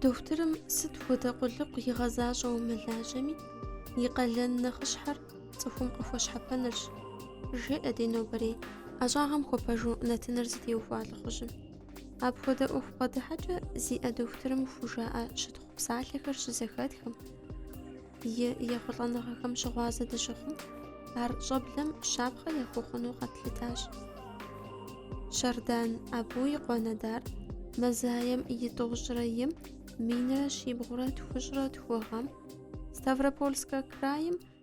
Дохутырым сыт хуэдэ къулыкъу игъэзащӏэу мылажьэми, и къалэн нэхъыщхьэр цӏыхум къыхуэщхьэпэнырщ, жеӏэ ди нобэрей ӏэщӏагъэм хуэпэжу нэтыныр зытеухуа лӏыхъужьым. Апхуэдэ ӏуэху бгъэдыхьэкӏэ зиӏэ дохутырым хужаӏэ щытхъу псалъэхэр щызэхэтхэм и ехъулӏэныгъэхэм щыгъуазэ дыщыхъум, ар щӏэблэм щапхъэ яхуэхъуну къэтлъытащ. Щэрдан Абу и къуэ Надир мазаем и тӏощӏрэ им минрэ щибгъурэ тхущӏрэ тху гъэм Ставропольскэ крайм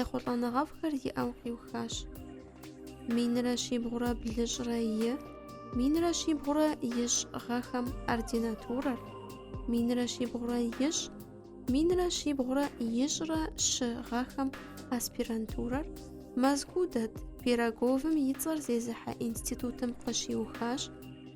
Ехъулӏэныгъэфӏхэр иӏэу къиухащ. Минрэ щибгъурэ блыщӏрэ и, минрэ щибгъурэ ищӏ гъэхэм ординатурэр, минрэ щибгъурэ ищӏ, минрэ щибгъурэ ищӏрэ щы гъэхэм аспирантурэр Мэзкуу дэт Пироговым и цӏэр зезыхьэ институтым къыщиухащ,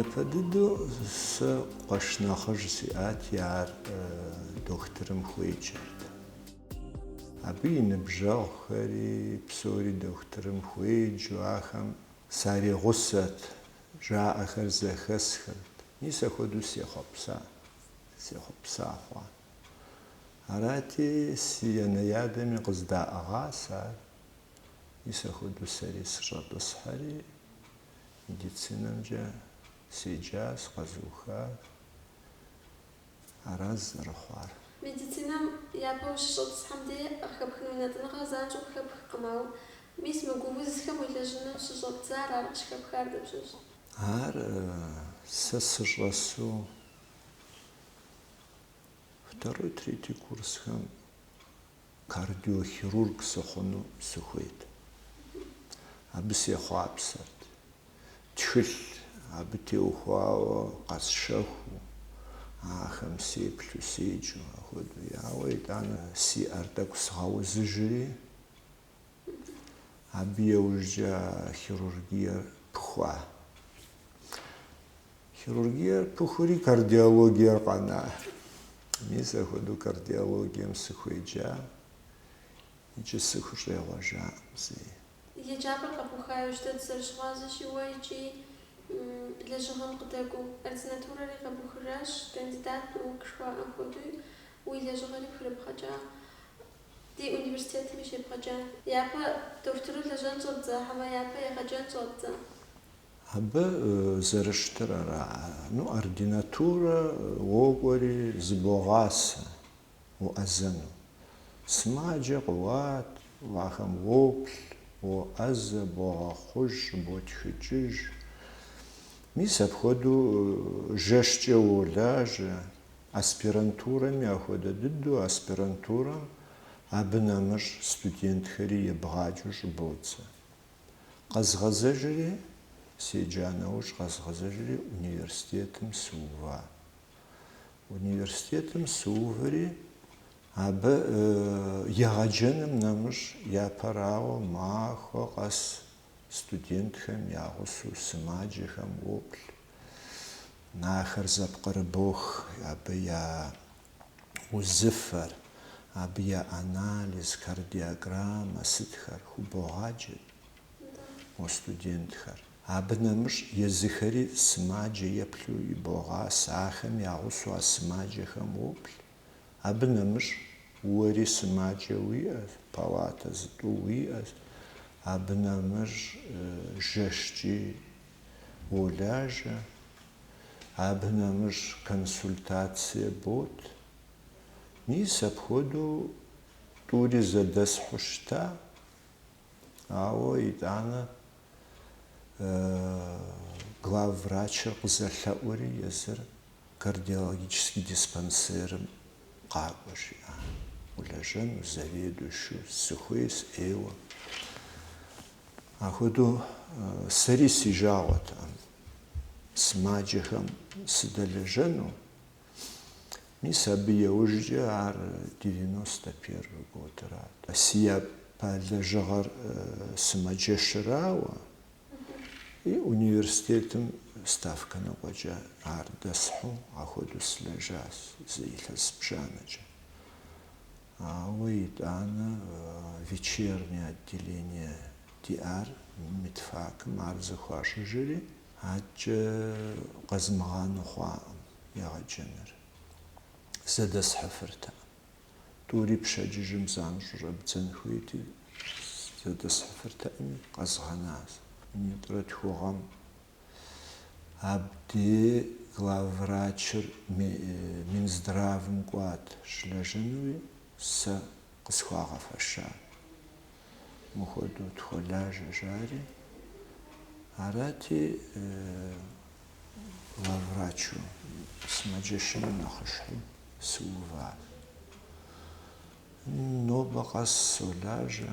Япэ дыдэу сэ къуэш нэхъыжь сиӏати, ар дохутырым хуеджэрт. Абы и ныбжьэгъухэри псори дохутырым хуеджу, ахэм саригъусэт, жаӏэхэр зэхэсхырт. Мис ахуэдэу сехъуэпса, сехъуэпса хъуа. Арати, си анэ-ядэми къыздаӏыгъащ ар. Мис ахуэдэу сэри сыщӏэтӏысхьэри, медицинэмкӏэ седжащ, къэзухащ. Аращ зэрыхъуар. Медицинэм япэ ущыщӏэтӏысхьэм дей къыхэпхын унэтӏыныгъэр занщӏэу къыхэпхкъым, ауэ мис мы гу узхэм уелэжьыну щыщӏэбдзар ар къыщыхэпхар дапщэщ? Ар сэ сыщӏэсу. Второй, третий курсхэм кардиохирург сыхъуну сыхуейт. Абы сехъуапсэрт. Тхылъ абы теухуауэ къэсщэхуу, ахэм сеплъу, седжу, ахуэдэу. Ауэ итӏанэ си ӏэр тӏэкӏу сгъэузыжри. Абы иужькӏэ хирургиер пыхуа. Хирургиер пыхури кардиологиер къэна. Мис апхуэдэу кардиологием сыхуеджа икӏи сыхущӏегъуэжакъым зэи. Еджапӏэр къэбуха иужькӏэ дызэрыщыгъуазэщи уэ икӏи лэжьыгъэм къыдэкӏуэу ординатурэри къэбухыжащ, кандидат наук жыхуаӏэм хуэдэуи уи лэжьыгъэри пхырыбгъэкӏа. Ди университетми щебгъэджа. Япэ дохутыру лэжьэн щӏэбдза, хьэмэ, япэ егъэджэн щӏэбдза? Абы зэрыщытыр ара? Ну, ординатурэ уокӏуэри, зыбогъасэ уӏэзэну. Сымаджэ къыуат, ахэм уоплъ, уоӏэзэ, богъэхъуж, щӏыботхыкӏыж. Мис апхуэдэу жэщкӏэ уолажьэ, Аспирантурэми ахуэдэ дыдэу аспирантурэм абы нэмыщӏ студентхэри ебгъаджэу щӏыбодзэ. Къэзгъэзэжри, седжа нэужь къэзгъэзэжри университетым сыува. Университетым сыуври, абы егъэджэным нэмыщӏ япэрауэ махуэ къэс студентхэм я гъусэу сымаджэхэм уоплъ, ахэр зэпкърыбох, абы я узыфэр, абы я анализ, кардиограммэ сытхэр хубогъаджэ мо студентхэр. Абы нэмыщӏ езыхэри сымаджэ еплъу ибогъасэ, ахэм я гъусэу а сымаджэхэм уоплъ. Абы нэмыщӏ уэри сымаджэ уиӏэщ, палатэ зытӏу уиӏэщ, абы нэмыщӏ жэщкӏи уолажьэ, абы нэмыщӏ консультацие бот. Мис апхуэдэу тӏури зэдэсхьу щыта, ауэ итӏанэ главврачыр къызэлъэӏури езыр Кардиологический диспансерым къакӏуэ, жиӏа. Улэжьэну заведующэу сыхуей сысейуэ. Ахуэдэу сэри си жагъуэтэкъым сымаджэхэм сыдэлэжьэну. Мис абы иужькӏэ ар девяносто первый годырат. Си япэ лэжьыгъэр сымаджэщырауэ. И университетым ставкэ ныкъуэкӏэ ар дэсхьу ахуэдэу сылэжьащ зы илъэс бжанэкӏэ. Ауэ итӏанэ вечернее отделение диӏар медфакым ар зэхуащӏыжри, адэкӏэ къэзмыгъанэу хъуакъым егъэджэныр, зэдэсхьыфыртэкъым. Тӏури пщэдджыжьым занщӏэу щӏэбдзэн хуейти, зэдэсхьыфыртэкъыми, къэзгъэнащ. Минитӏрэ тху гъэм абдей главврачыр Минздравым кӏуат щылэжьэнуи, сэ къысхуагъэфэщат. мыхуэдэу тхуэлажьэ жари. Арати, главврачу сымаджэщым нэхъыщхьэу сыувари нобэ къэс солажьэ.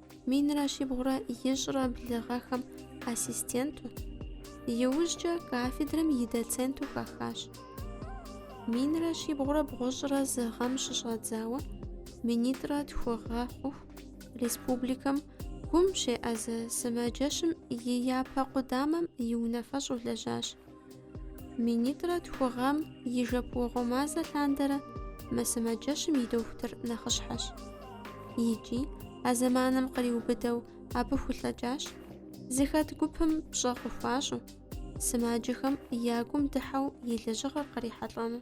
Минрэ щибгъурэ ищӏрэ блы гъэхэм ассистенту, иужькӏэ кафедрэм и доценту хахащ. Минрэ щибгъурэ бгъущӏрэ зы гъэм щыщӏэдзауэ Минитӏрэ тху гъэ хъуху республикэм гум щеӏэзэ сымаджэщым и япэ къудамэм и унафэщӏу лэжьащ. Минитӏрэ тху гъэм и жэпуэгъуэ мазэ лъандэрэ мы сымаджэщым и дохутыр нэхъыщхьэщ. Икӏи а зэманым къриубыдэу абы хулъэкӏащ, зыхэт гупым пщӏэ къыхуащӏу, сымаджэхэм я гум дыхьэу и лэжьыгъэр кърихьэлӏэну.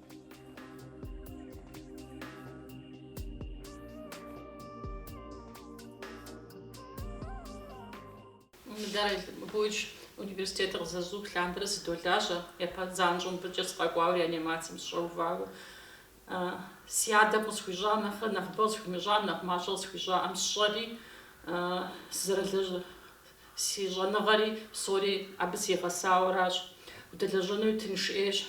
Луч университетыр къызэзух лъандэрэ сыдолажьэ, япэ занщӏэу мыбыкӏэ сыкъэкӏуауэ реанимацием сыщӏэувауэ. Си адэм къысхуищӏа нэхърэ нэхъыбэ къысхуимыщӏам, нэхъ мащӏэ къысхуищӏаӏэм сщӏэри, сызэрылэжь, си щӏэныгъэри псори абы сигъэсауэращ. Удэлэжьэнуи тынш ӏейщ.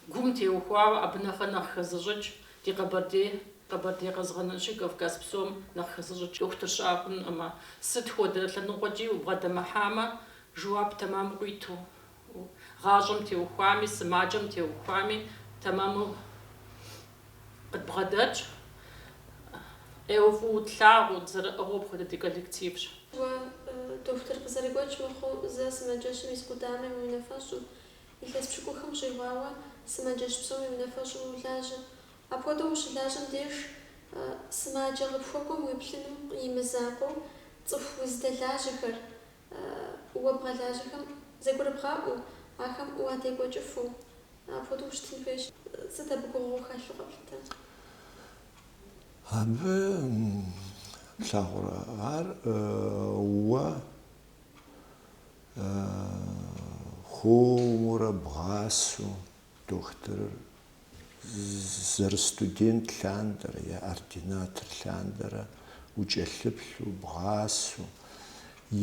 Гум теухуауэ абы нэхърэ нэхъ хэзыщӏыкӏ ди Къэбэрдей, Къэбэрдей къэзгъэнэнщи Кавказ псом нэхъ хэзыщӏыкӏ дохутыр щыӏэ хъунуӏымэ, сыт хуэдэ лъэныкъуэкӏи убгъэдэмыхьамэ, жэуап тэмэму къуиту, гъащӏэм теухуами, сымаджэм теухуами, тэмэму къыдбгъэдэтщ, ӏейуэ фӏыуэ тлъагъуу, дызэрыӏыгъыу апхуэдэ ди коллективщ. Уэ дохутыр къызэрыгуэкӏ мыхъуу, зэ сымаджэщым и зы къудамэм и унафэщӏу, Илъэс пщыкӏухэм щӏигъуауэ сымаджэщ псом и унафэщӏу улажьэ. Апхуэдэу ущылажьэм деж, сымаджэ къыпхуэкӏуэм уеплъыным и мызакъуэу цӏыху узыдэлажьэхэр, уэ бгъэлажьэхэм зэгурыбгъаӏуэу, ахэм уадекӏуэкӏыфу, апхуэдэу ущытын хуейщ. Сыт абы гугъугъуу хэлъу къэплъытэ? Абы плъагъурэ ар уэ хуэмурэ бгъасэу дохутырыр зэрыстудент лъандэрэ е ординатор лъандэрэ укӏэлъыплъу, бгъасэу,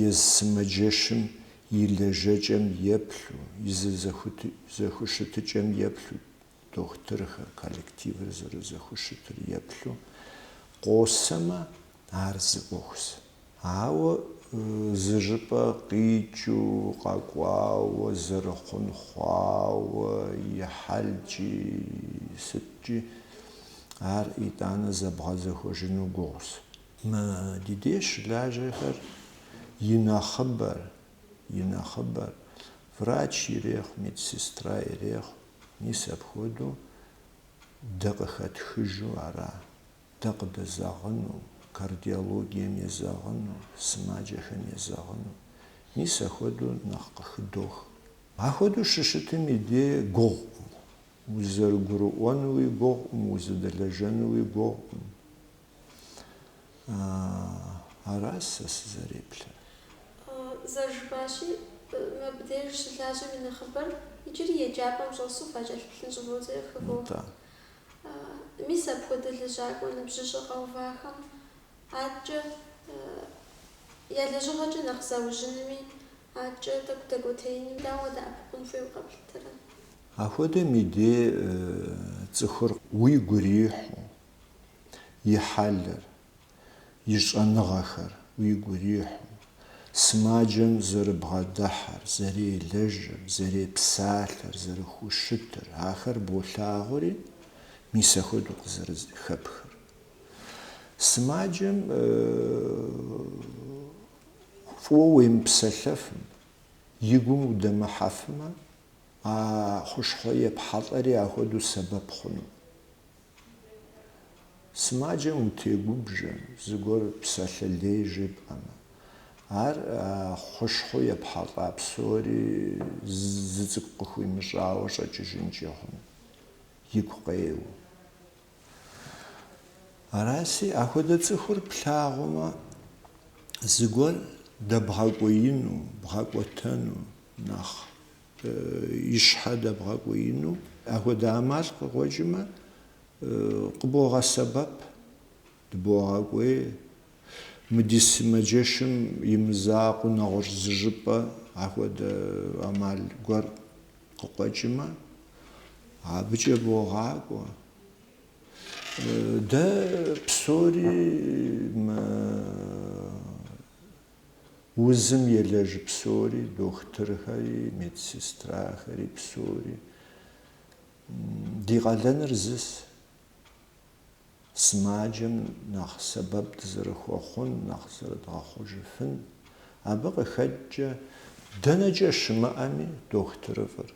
езы сымаджэщым и лэжьэкӏэм еплъу, и зэ зэхущытыкӏэм еплъу, дохутырхэр, коллективыр зэрызэхущытыр еплъу къосэмэ, ар зы ӏуэхущ. Ауэ зыжыпӏэ къикӏыу, къэкӏуауэ, зэрыхъун хъуауэ и хьэлкӏи, сыткӏи, ар итӏанэ зэбгъэзэхуэжыну гугъущ. Мы ди деж щылажьэхэр и нэхъыбэр, и нэхъыбэр, врач ирехъу, медсестра ирехъу, мис апхуэдэу дэ къыхэтхыжу ара. Дэ къыдэзэгъыну, кардиологием езэгъыну, сымаджэхэм езэгъыну. Мис ахуэдэу нэхъ къыхыдох. Ахуэдэу щыщытым и дей гугъукъым. Узэрыгурыӏуэнуи гугъукъым, узэдэлэжьэнуи гугъукъым. Ара сэ сызэреплъыр. Зэрыжыпӏащи, мыбдеж щылажьэм и нэхъыбэр иджыри еджапӏэм щӏэсу факӏэлъыплъын щӏыводзэ си гугъэ. Мис апхуэдэ лэжьакӏуэ ныбжьыщӏэ къэувахэм адэкӏэ я лэжьыгъэкӏэ нэхъ заужьынми, адэкӏэ тӏэкӏу дэкӏуэтеиным дауэ дэӏэпыкъун хуейуэ къэплъытэрэ? Апхуэдэм и дей цӏыхур уигу ирихьу, и хьэлыр, и щӏэныгъэхэр уигу ирихьу, сымаджэм зэрыбгъэдыхьэр, зэрелэжьыр, зэрепсалъэр, зэрыхущытыр, ахэр болъагъури, мис ахуэдэу къызэрыхэпхыр. Сымаджэм фӏыуэ уемыпсэлъэфым, и гум удэмыхьэфмэ, а хущхъуэ епхьэлӏэри ахуэдэу сэбэп хъуну. Сымаджэм утегубжьэ, зыгуэр псалъэ лей жепӏэмэ, ар хущхъуэу епхьэлӏа псори зы цӏыкӏу къыхуимыщӏауэ щӏэкӏыжынкӏи хъун, игу къеуэу. Араси, ахуэдэ цӏыхур плъагъумэ, зыгуэр дэбгъэкӏуеину, бгъэкӏуэтэну нэхъ и щхьэ дэбгъэкӏуеину, апхуэдэ ӏэмал къыкъуэкӏымэ, къыбогъэсэбэп, дыбогъэкӏуей, мы ди сымаджэщым и мызакъуэу нэгъуэщӏ зыжыпӏэ апхуэдэ ӏэмал гуэр къыкъуэкӏымэ, абыкӏэ богъакӏуэ. Дэ псори мы. узым елэжь псори, дохутырхэри, медсестрахэри псори. Ди къалэныр зыс. Сымаджэм нэхъ сэбэп дызэрыхуэхъун, нэхъ зэрыдгъэхъужыфын. Абы къыхэкӏкӏэ, дэнэкӏэ щымыӏэми, дохутырыфӏыр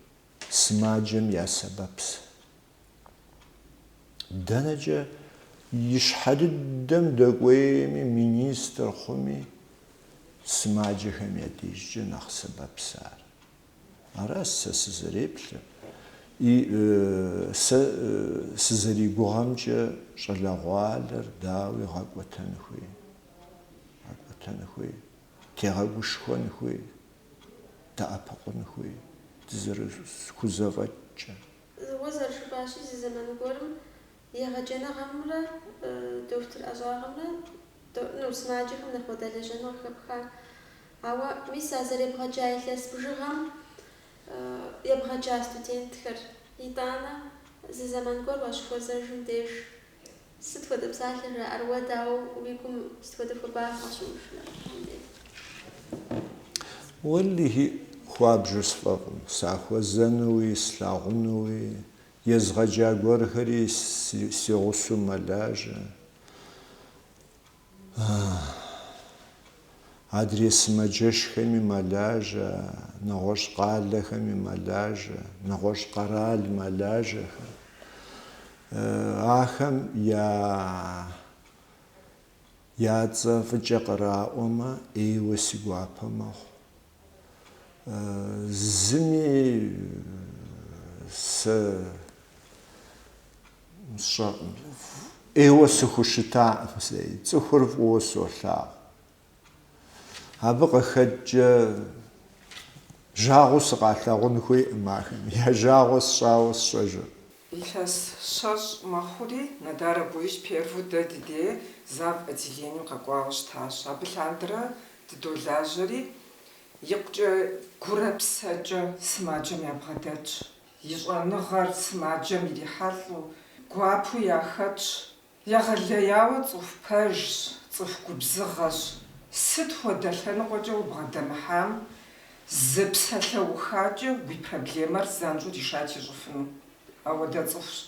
сымаджэм я сэбэпс. Дэнэкӏэ и щхьэ дыдэм дэкӏуейми, министр хъуми, сымаджэхэм я дежкӏэ нэхъ сэбэпс ар. Аращ сэ сызэреплъыр. И сэ сызэригугъэмкӏэ щӏалэгъуалэр дауи гъэкӏуэтэн хуей. Гъэкӏуэтэн хуей, тегъэгушхуэн хуей, дэӏэпыкъун хуей, дызэрыхузэфӏэкӏкӏэ. Зыгуэр зэрыжыпӏащи, зы зэман гуэрым егъэджэныгъэмрэ дохутыр ӏэщӏагъэмрэ ну сымаджэхэм нэхъ уадэлэжьэну къыхэпха. Ауэ мис а зэребгъэджа илъэс бжыгъэм ебгъэджа студентхэр, итӏанэ зы зэман гуэр уащыхуэзэжым деж, Сыт хуэдэ псалъэ жаӏэр уэ, дауэ уи гум сыт хуэдэ хуабагъ къэщымышынэр, Мухьэмбет? Уэлэхьи, хуабжьу сфӏэфӏщ, сахуэзэнуи, слъагъунуи, езгъэджа гуэрхэри си гъусэу мэлажьэ. Адрей сымаджэщхэми мэлажьэ, нэгъуэщӏ къалэхэми мэлажьэ, нэгъуэщӏ къэрал мэлажьэхэм. Ахэм я я цӏэ фӏыкӏэ къыраӏуэмэ, ӏейуэ си гуапэ мэхъу. Зыми сэ ӏейуэ сыхущытакъым зэи, цӏыхур фӏыуэ солъагъу. Абы къыхэкӏкӏэ жагъуэу сыкъалъагъун хуейкъым ахэм, я жагъуэ сщӏауэ сщӏэжыркъым. Илъэс щэщӏ мэхъури, Нодар Абуевич первэу дэ ди дей зав отделением къэкӏуауэ щытащ. Абы лъандэрэ дыдолажьэри, икъукӏэ гурэ псэкӏэ сымаджэм ябгъэдэтщ. И щӏэныгъэр сымаджэм ирихьэлӏэу, гуапэу яхэтщ. Егъэлеяуэ цӏыху пэжщ, цӏыху губзыгъэщ. Сыт хуэдэ лъэныкъуэкӏэ убгъэдэмыхьам, зы псалъэухакӏэ уи проблемэр занщӏэу решать ищӏыфыну. Ауэдэ цӏыхущ.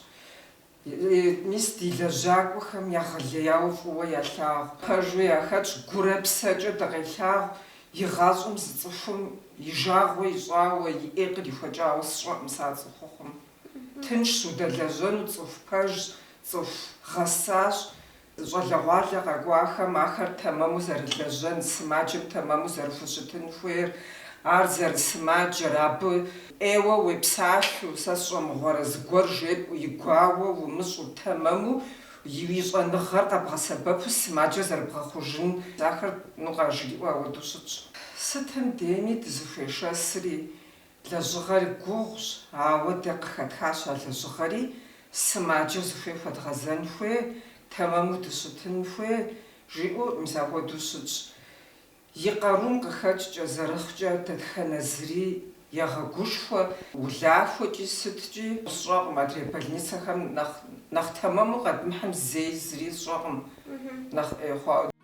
Мис ди лэжьакӏуэхэм егъэлеяуэ фӏыуэ ялъагъу. Пэжу яхэтщ, гурэ псэкӏэ дыкъелъагъу, игъащӏэм зы цӏыхум и жагъуэ ищӏауэ, и ӏей кърихуэкӏауэ сщӏэкъым сэ а цӏыхухъум. Тыншщ удэлэжьэну, цӏыху пэжщ, цӏыху гъэсащ, Щӏалэгъуалэ къэкӏуахэм ахэр тэмэму зэрылэжьэн, сымаджэм тэмэму зэрыхущытын хуейр, ар зэрысымаджэр, абы ӏейуэ уепсалъэу, сэ сщӏэ мыгъуэрэ, зыгуэр жепӏэу, и гуауэ умыщӏу, тэмэму уи щӏэныгъэр къэбгъэсэбэпу сымаджэр зэрыбгъэхъужын ахэр ну къажриӏэу ауэдэу щытщ. Сытым дейми дызыхуешэсри, Лэжьыгъэр гугъущ, ауэ дэ къыхэтхащ а лэжьыгъэри, сымаджэ зыхуей хуэдгъэзэн хуей, тэмэму дыщытын хуей, жиӏэу мис апхуэдэу щытщ. И къарум къыхэкӏкӏэ, зэрыхъукӏэ, дэтхэнэ зыри егъэгушхуэ, улахуэкӏи сыткӏи сщӏэкъым, адрей больницэхэм нэхъ нэхъ тэмэму къэдмыхьым зэи зыри сщӏэкъым, нэхъ ӏей хъуауэ.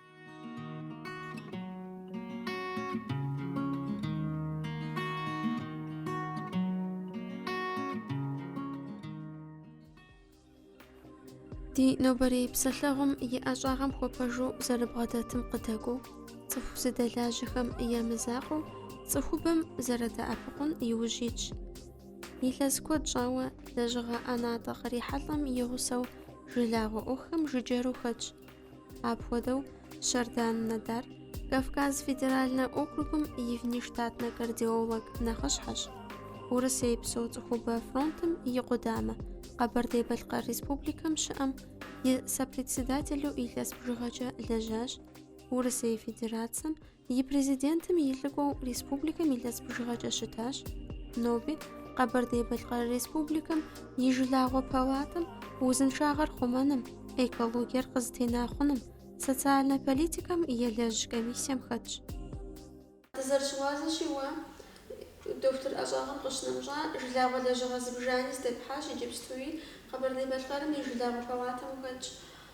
Ди нобэрей псэлъэгъум и ӏэщӏагъэм хуэпэжу зэрыбгъэдэтым къыдэкӏуэу, цӏыху зыдэлажьэхэм я мызакъуэу цӏыхубэм зэрыдэӏэпыкъун иужь итщ. Илъэс куэд щӏауэ лэжьыгъэ ӏэнатӏэ кърихьэлӏэм и гъусэу жылагъуэ ӏуэхухэм жыджэру хэтщ. Апхуэдэу Щэрдан Надар Кавказ федеральнэ округым и внештатнэ кардиолог нэхъыщхьэщ. Урысей псо цӏыхубэ фронтым и къудамэ, Къэбэрдей-Балъкъэр Республикэм щыӏэм и сопредседателу илъэс бжыгъэкӏэ лэжьащ Урысей Федерацием И Президентым и лӏыкӏуэу республикэм илъэс бжыгъэкӏэ щытащ, ноби Къэбэрдей-Балъкъэр Республикэм и жылагъуэ палатэм узыншагъэр хъумэным, экологиер къызэтена хъуным, социальнэ политикэм елэжь комиссием хэтщ. Дызэрыщыгъуазэщи, уэ дохутыр ӏэщӏагъэм къыщынэмыщӏа жылагъуэ лэжьыгъэ зыбжани здепхьащ, иджыпстуи Къэбэрдей-Балъкъэрым и жылагъуэ палатэм ухэтщ.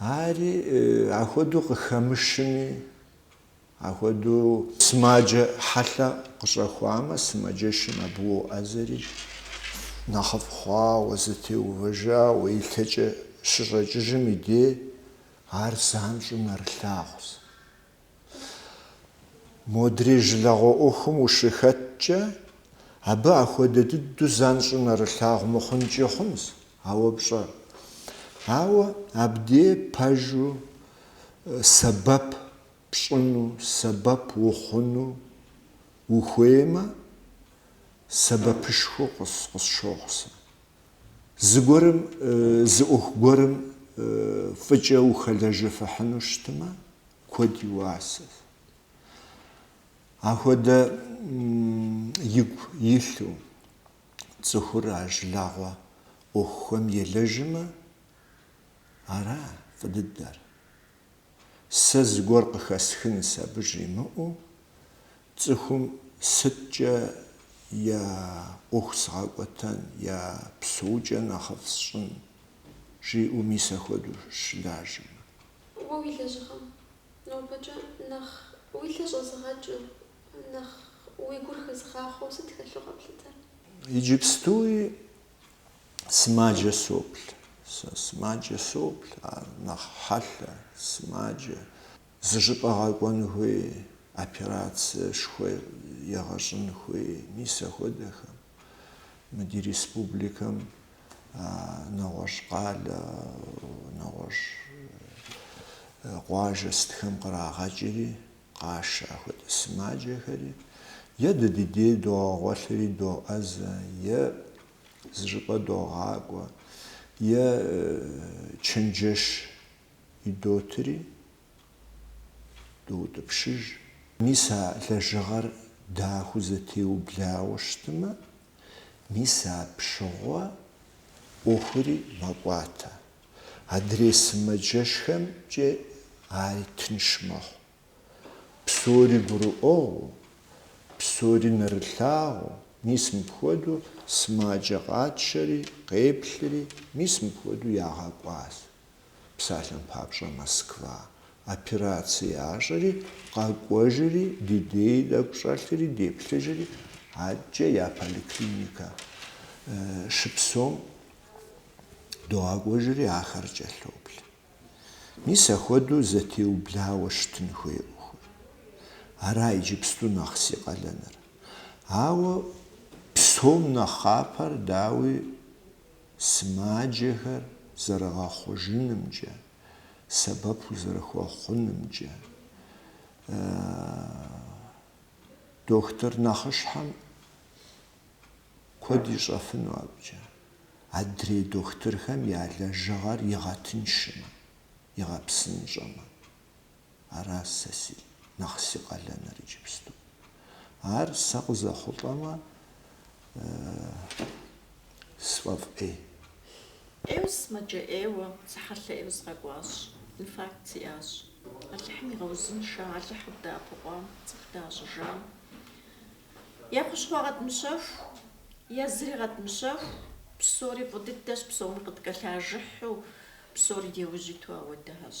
Ари ахуэдэу къыхэмышми, ахуэдэу сымаджэ хьэлъэ къыщӏэхуамэ, сымаджэщым абы уоӏэзэри, нэхъыфӏ хъуауэ, зэтеувэжауэ, и лъэкӏэ щыщӏэкӏыжым и дей ар занщӏэу нэрылъагъущ. Модрей жылагъуэ ӏуэхум ущыхэткӏэ, абы ахуэдэ дыдэу занщӏэу нэрылъагъу мыхъункӏи хъунщ, ауэ пщӏэр. Ауэ абдей пэжу сэбэп пщӏыну, сэбэп ухъуну ухуеймэ, сэбэпышхуэу къысщохъу сэ. Зыгуэрым, зы ӏуэху гуэрым фӏыкӏэ ухэлэжьыфыхьыну щытмэ, Куэд и уасэщ. Ахуэдэ игу илъу цӏыхур а жылагъуэ ӏуэхухэм елэжьмэ, ара фӏы дыдэр? Сэ зыгуэр къыхэсхынщ абы жимыӏэу, цӏыхум сыткӏэ я ӏуэху сгъэкӏуэтэн, я псэукӏэ нэхъыфӏ сщӏын? жиӏэу мис ахуэдэу щылажьэмэ. Уэ уи лэжьыгъэм нобэкӏэ нэхъ уи лъэ щӏэзыгъэкӏыу, нэхъ уи гур хэзыгъахъуэу сыт хэлъу къэплъытэр? Иджыпстуи сымаджэ соплъ. Сэ сымаджэ соплъ, ар нэхъ хьэлъэ, сымаджэ. Зыщӏыпӏэ гъэкӏуэн хуей, операциешхуэ егъэщӏын хуей, мис ахуэдэхэм. Мы ди республикэм нэгъуэщӏ къалэ, нэгъуэщӏ къуажэ сытхэм кърагъэкӏри, къашэ ахуэдэ сымаджэхэри, е дэ ди дей догъэгъуэлъри доӏэзэ, е зыщӏыпӏэ догъакӏуэ, е чэнджэш идотри, Доутӏыпщыж. Мис а лэжьыгъэр дахэу зэтеублауэ щытымэ, мис апщыгъуэ ӏуэхури мэкӏуатэ. Адрей сымаджэщхэмкӏэ ари тынш мэхъу. Псори гурыӏуэгъуу, псори нэрылъагъуу, мис мыпхуэдэу сымаджэ къэтшэри, къеплъри, мис мыпхуэдэу ягъэкӏуащ. Псалъэм папщӏэ, Москва операцие ящӏэри, къэкӏуэжри, ди дей тӏэкӏу щӏэлъри, деплъыжри, адэкӏэ я поликлиникэ щыпсэум догъэкӏуэжри, ахэр кӏэлъоплъ. Мис ахуэдэу зэтеублауэ щытын хуей ӏуэхур. Ара иджыпсту нэхъ си къалэныр. Ауэ псом нэхъапэр, дауи, сымаджэхэр зэрыгъэхъужынымкӏэ, сэбэп узэрыхуэхъунымкӏэ, дохутыр нэхъыщхьэм куэд ищӏэфыну абыкӏэ, адрей дохутырхэм я лэжьыгъэр игъэтыншмэ, игъэпсынщӏэмэ. Ара сэ си нэхъ си къалэныр иджыпсту. Ар сэ къызэхъулӏэмэ, сфӏэфӏ ӏей. ӏейуэ сымаджэ ӏейуэ сыхьэлъэ ӏейуэ сыкъэкӏуащ. Инфаркт сиӏащ. Алыхьым игъэузыншэ Алыхьыр дэӏэпыкъуам, цӏыху дащӏыжам. Е хущхъуэ къэтмыщэху, е зыри къэтмыщэху, псори фӏы дыдэщ, псоми къыткӏэлъажыхьу, псори ди ужь иту ахуэдэхэщ.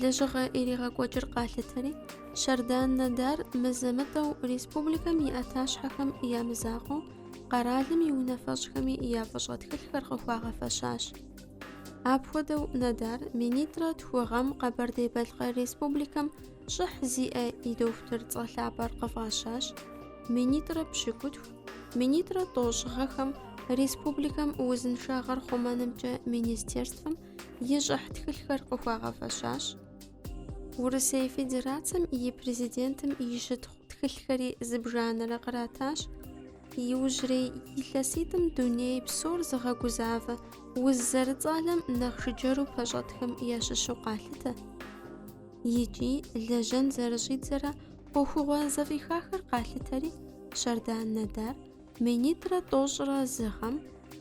Лэжьыгъэ иригъэкӏуэкӏыр къалъытэри, Щардан Надар мызэ-мытӏэу республикэм и ӏэтащхьэхэм я мызакъуэу, къэралым и унафэщӏхэми я фӏыщӏэ тхылъхэр къыхуагъэфэщащ. Апхуэдэу Надар минитӏрэ тху гъэм Къэбэрдей-Балъкъэр Республикэм щӏыхь зиӏэ и дохутыр цӏэ лъапӏэр къыфӏащащ, минитӏрэ пщыкӏутху, минитӏрэ тӏощӏ гъэхэм, республикэм узыншагъэр хъумэнымкӏэ министерствэм и щӏыхь тхылъхэр къыхуагъэфэщащ. Урысей Федерацэм и Президентым и щытхъу тхылъхэри зыбжанэрэ къратащ. Иужьрей илъэситӏым дуней псор зыгъэгузавэ уз зэрыцӏалэм нэхъ жыджэру пэщӏэтхэм ящыщу къалъытэ. Икӏи лэжьэн зэрыщӏидзэрэ ӏуэхугъуэ зэфӏихахэр къалъытэри, Щардан Надар Минитӏрэ тӏощӏрэ зы гъэм,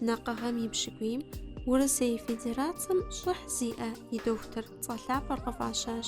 Накъыгъэм и пщыкӏуийм, Урысей Федерацэм щӏыхь зиӏэ и дохутыр цӏэ лъапӏэр къыфӏащащ.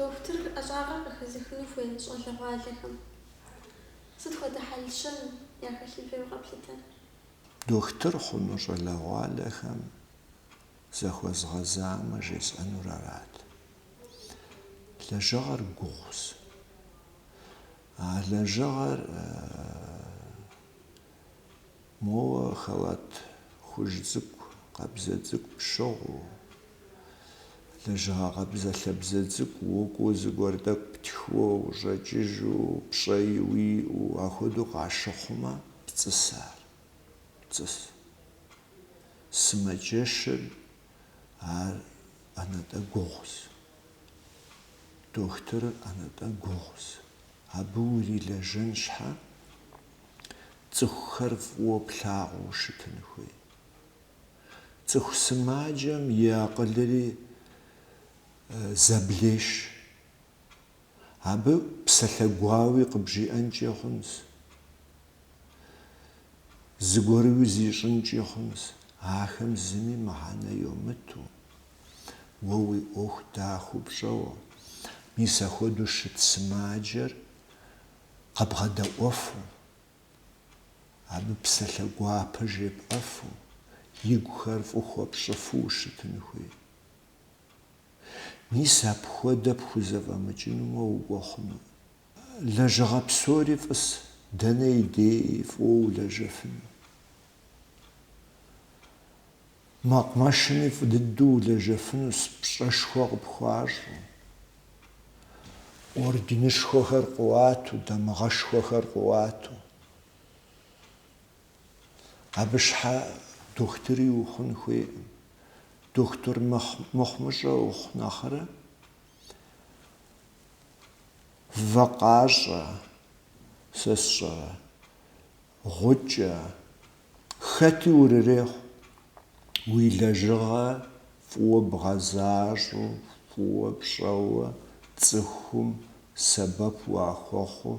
Дохутыр ӏэщӏагъэр къыхэзыхыну хуей щӏалэгъуалэхэм сыт хуэдэ хьэл-щэн яхэлъын хуейуэ къэплъытэ? Дохутыр хъуну щӏалэгъуалэхэм захуэзгъэзамэ жесӏэнур арат. Лэжьыгъэр гугъущ. А лэжьыгъэр моуэ халат хужь цӏыкӏу, къабзэ цӏыкӏу пщыгъыу, лэжьыгъэ къабзэлъабзэ цӏыкӏу укӏуэу зыгуэр тӏэкӏу птхыуэ ущӏэкӏыжу, пщӏэи уиӏэу, ахуэдэу къащыхъумэ, пцӏыс ар, пцӏыс. сымаджэщыр ар ӏэнатӏэ гугъус. Дохутырыр ӏэнатӏэ гугъус. Абы урилэжьэн щхьэ, цӏыхухэр фӏыуэ плъагъуу щытын хуей. Цӏыху сымаджэм и акъылри зэблеш. Абы псалъэ гуауи къыбжиӏэнкӏи хъунщ, зыгуэрыуи зищӏынкӏи хъунщ, ахэм зыми мыхьэнэ йомыту, уэ уи ӏуэху дахэу пщӏэуэ, мис ахуэдэу щыт сымаджэр къэбгъэдэӏуэфу, абы псалъэ гуапэ жепӏэфу, игухэр фӏы хуэпщӏыфу ущытын хуей. Мис апхуэдэ пхузэфӏэмыкӏынумэ укӏуэ хъуну? Лэжьыгъэ псори фӏыс, дэнэ и дей фӏыуэ улэжьэфынущ. Мэкъумэшми фӏы дыдэу улэжьэфынущ пщӏэшхуэ къыпхуащӏэу, орденышхуэхэр къуату, дамыгъэшхуэхэр къуату. Абы щхьэ дохутыри ухъун хуейкъым. Дохутыр мыхъумыщӏэ ухъу нэхърэ, вакъащӏэ, сэ сщӏэрэ, гъукӏэ, хэти урырехъу, уи лэжьыгъэ фӏыуэ бгъэзащӏэу, фӏыуэ пщӏэуэ цӏыхум сэбэп уахуэхъуу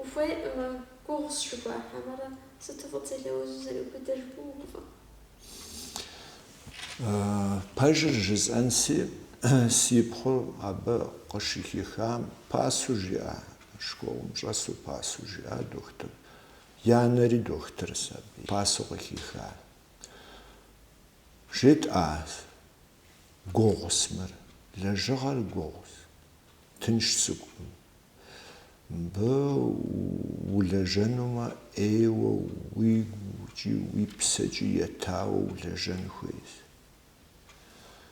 Ухуейкъымэ, гугъущ жыхуаӏхьэмэрэ, сыту фӏыт зэлэужьу зэрыубыдыр, гуубгъуэ. Пэжыр жысӏэнси, си пхъур абы къыщыхихам пасэу жиӏа, школым щӏэсу пасэу жиӏа дохутыр. Янэри дохутырщ абы, пасэу къыхиха. Жетӏа, Гугъус мыр, лэжьыгъэр гугъус. Тынш цӏыкӏукъым. Мыбы улэжьэнумэ, ӏейуэ уигукӏи уи псэкӏи етауэ улэжьэн хуейщ.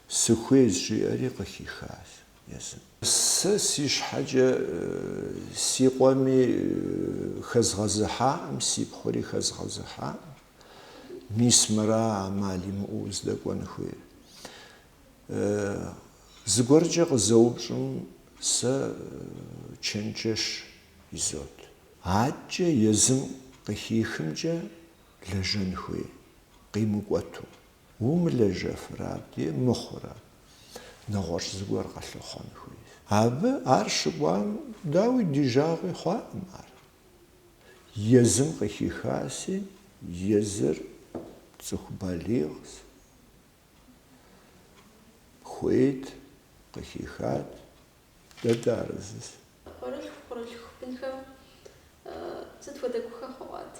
Сыхуейщ, жиӏэри къыхихащ езым. Сэ си щхьэкӏэ си къуэми хэзгъэзыхьакъым, си пхъури хэзгъэзыхьакъым. Мис мыра ӏэмал имыӏэу уздэкӏуэн хуейр? Зыгуэркӏэ къызэупщӏым, сэ чэнджэщ изот. Адэкӏэ езым къыхихымкӏэ лэжьэн хуей, къимыкӏуэту. Умылэжьэфрэ абдей мыхъурэ, нэгъуэщӏ зыгуэр къэлъыхъуэн хуейщ. Абы ар щыкӏуам, дауи, ди жагъуи хъуакъым ар. Езым къыхихаси, езыр цӏыху балигъщ, хуейт, къыхихат, дэ дыарэзыщ. Къуэрылъху-пхъурылъху бынхэм сыт хуэдэ гухэхъуэ къуат?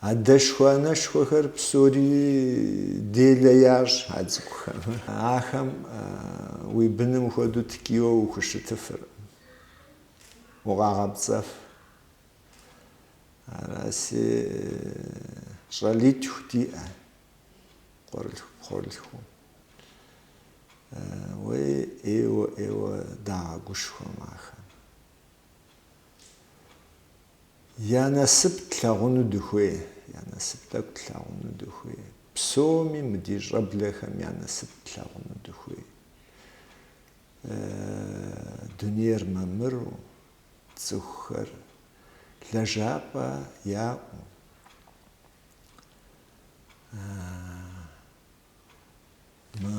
Адэшхуэ-анэшхуэхэр псори делэ ящӏ а цӏыкӏухэм. Ахэм уи быным хуэдэу ткӏийуэ ухущытыфыркъым, укъагъэпцӏэф, Араси щӏалитху диӏэ къуэрылъху-пхъурылъхуу. Уей, ӏейуэ, ӏейуэ дагъэгушхуэм ахэм. Я насып тлъагъуну дыхуей, я насып тӏэкӏу тлъагъуну дыхуей. Псоми мы ди щӏэблэхэм я насып тлъагъуну дыхуей. Дунейр мамыру, цӏыхухэр лэжьапӏэ яӏэу, мы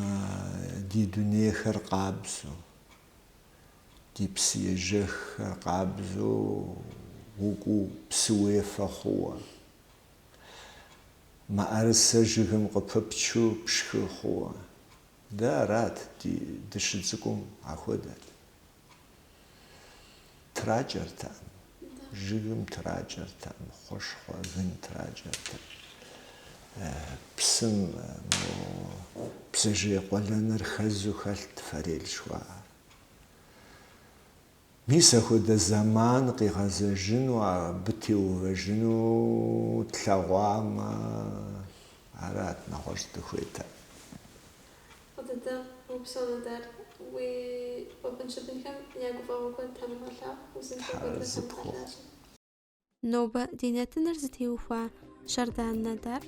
ди дунейхэр къабзэу, ди псыежэххэр къабзэу укӏуу, псы уефэ хъууэ, мыӏэрысэ жыгым къыпыпчу пшхы хъууэ. Дэ арат, дыщыцӏыкӏум ахуэдэт. Тракӏэртэкъым, жыгым тракӏэртэкъым, хъушхъуэ, гын тракӏэртэкъым. Псым бдзэжьей къуэлэныр хэзу хэлът форель жыхуаӏэр. Мис ахуэдэ зэман къигъэзэжыну, абы теувэжыну тлъэгъуамэ, арат, нэгъуэщӏ дыхуейтэкъым. Куэд дыдэ упсэу, Нодар, уи къуэбын-щыбынхэм я гуфӏэгъуэ куэд Тхьэм уигъэлъагъу, узыншэу куэдрэ Тхьэм уигъэлажьэ. Нобэ ди нэтыныр зытеухуа Щардан Нодар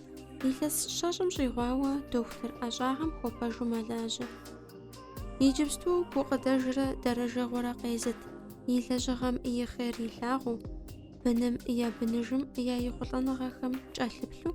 илъэс щэщӏым щӏигъуауэ дохутыр ӏэщӏагъэм хуэпэжу мэлажьэ. Иджыпсту гукъыдэжрэ дэрэжэгъуэрэ къезыт и лэжьыгъэм и хъер илъагъуу, быным я быныжым я ехъулӏэныгъэхэм кӏэлъыплъу,